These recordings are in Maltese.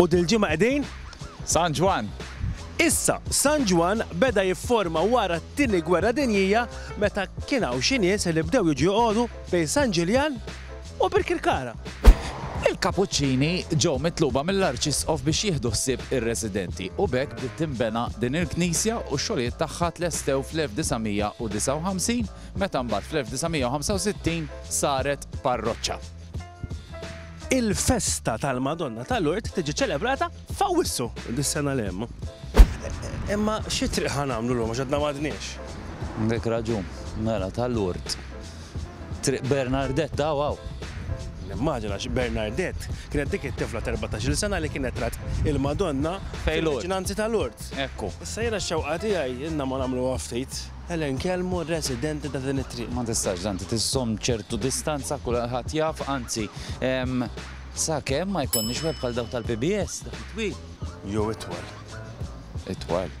U dil-ġimgħa qegħdin? San Ġwann! Issa, San Ġwann beda jifforma wara t-Tieni Gwerra Dinjija meta kien hawn xi nies li bdew jiġu joqogħdu bejn San Ġiljan u Birkirkara. Il-Kapuċċini ġew mitluba mill-Arċisqof biex jieħdu ħsieb ir-residenti u b'hekk bdiet tinbena din il-knisja u x-xogħlijiet tagħha tlestew fl-1959 meta mbagħad fl-1965 saret parroċċa. Il-festa tal-Madonna ta' Lourdes tiġi ċelebrata f'Awwissu dis-sena li hemm. Imma xi triq ħa nagħmlu llum għax għadna m'għadniex? Għandek raġun, mela ta' Lourdes. Triq Bernardett hawn hawn. Nimmaġina għax Bernardett kienet dik it-tifla ta' erbatax-il sena li kienet rat il-Madonna fil-viċinanzi ta' Lourdes. Ekku. Issa jiena x-xewqa tiegħi ilna ma nagħmluha ftit. Ejja nkellmu r-residenti ta' din it-triq. Ma tistax tanti tiżżomm ċertu distanza, kulħadd jaf, anzi, sakemm ma jkollniex web bħal dawk tal-PBS, dak it-twil. Jew itwal. Itwal.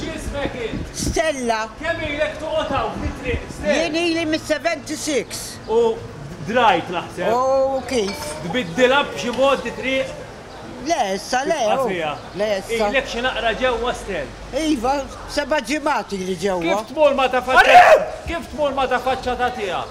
X'ismek int? Stella. Kemm ilek toqgħod hawn fit-triq, Stell? Jien ili mis-76. U drajt naħseb. U kif? Tbiddilha b'xi mod di triq? Le issa le. Tibqa' fiha. Le issa. Ilek xi naqra ġewwa, Stell? Iva, seba' ġimgħat ili ġewwa. Kif tmur ma' ta' faċċa. Kif tmur ma' ta' faċċa ta' tiegħek?